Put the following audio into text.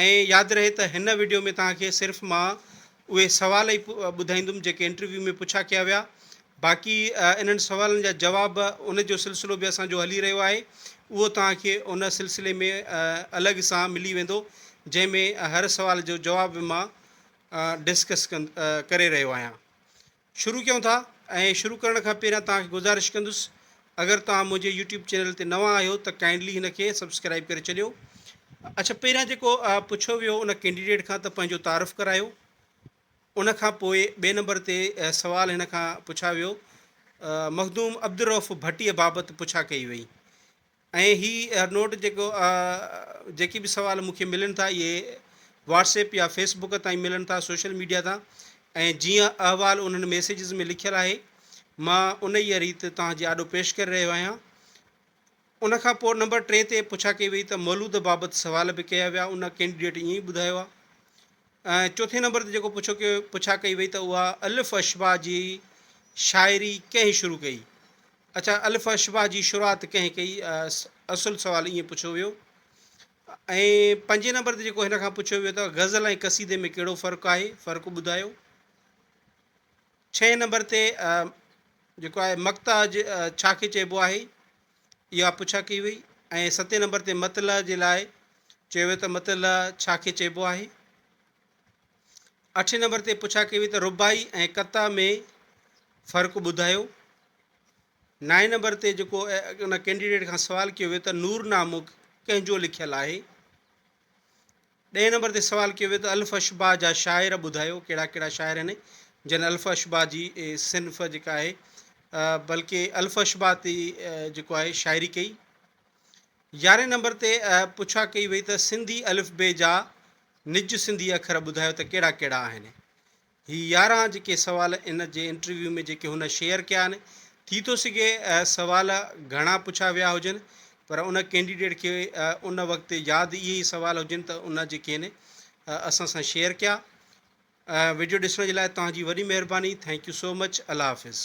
۽ ياد رهي ته هن وڊيو ۾ توهان کي صرف مان اهي سوال ئي ٻڌائيندم جيڪي انٽرويو ۾ پڇا ڪيا ويا باقي انهن سوالن جا جواب ان جو سلسلو به اسان جو هلي رهيو آهي اهو توهان کي ان سلسلي ۾ الڳ سان ملي ويندو جنهن ۾ هر سوال جو جواب به مان ڊسڪس ڪري رهيو آهيان شروع ڪيون ٿا ۽ شروع ڪرڻ کان پهريان توهان کي گذارش ڪندس اگر توهان منهنجي يوٽيوب چينل تي نوان آهيو ته ڪائنڊلي هن کي سبسڪرائب ڪري ڇڏيو اڇا پهريان جيڪو پڇيو ويو ان ڪينڊيڊيٽ کان ته پنهنجو تعارف ڪرايو ان کان پوء ٻئي نمبر تي سوال هن کان پڇا ويو مخدوم عبدالرؤف ڀٽيء بابت پڇا ڪئي وئي ۽ هي نوٽ جيڪو جيڪي به سوال مون کي ملن ٿا اهي واٽس ايپ يا فيس بڪ تائين ملن ٿا سوشل ميڊيا تان ۽ جيئن احوال انهن ميسيجز ۾ لکيل آهي مان انهيء ريت توهان جي آڏو پيش ڪري رهيو آهيان ان کان پوء نمبر ٽي تي پڇا ڪئي وئي ته مولود بابت سوال به ڪيا ويا ان ڪينڊيڊيٽ ائين ئي ٻڌايو آهي ۽ چوٿين نمبر تي جيڪو پڇو ڪيو پڇا ڪئي وئي ته اها الف اشباع جي شاعري ڪنهن شروع ڪئي؟ اڇا الف اشباع جي شروعات ڪنهن ڪئي؟ اصل سوال ائين پڇيو ويو. ۽ پنجين نمبر تي جيڪو هن کان پڇيو ويو ته غزل ۽ قصيدي ۾ ڪهڙو فرق آهي؟ فرق ٻڌايو. ڇهين نمبر تي جيڪو آهي مقطع ڇا کي چئبو آهي؟ اها پڇا ڪئي وئي ۽ ستين نمبر تي مطلع جي لاء چيو ويو ته مطلع ڇا کي چئبو آهي. اٺين نمبر تي پڇا ڪئي وئي ته رباعي ۽ قطع ۾ فرق ٻڌايو. نائين نمبر تي جيڪو ان ڪينڊيڊيٽ کان سوال ڪيو ويو ته نورنامو ڪنهن جو لکيل آهي. ڏهين نمبر تي سوال ڪيو ويو ته الف اشباع جا شاعر ٻڌايو ڪهڙا ڪهڙا شاعر آهن جن الف اشباع جي صنف جيڪا آهي بلڪه الف اشباع تي جيڪو آهي شاعري ڪئي يارهين نمبر تي پڇا ڪئي وئي ته سنڌي الف بي جا نج سنڌي اکر ٻڌايو ته ڪهڙا ڪهڙا آهن هي يارهن جيڪي سوال ان جي انٽرويو ۾ جيڪي هن شيئر ڪيا آهن ٿي ٿو سگهي سوال گهڻا پڇيا ويا هجن پر ان ڪينڊيڊيٽ کي ان وقت ياد اهي ئي سوال هجن ته ان جيڪي آهن اسان سان شيئر ڪيا ويڊيو ڏسڻ جي لاء توهان جي وڏي مهرباني ٿينڪ يو سو مچ الله حافظ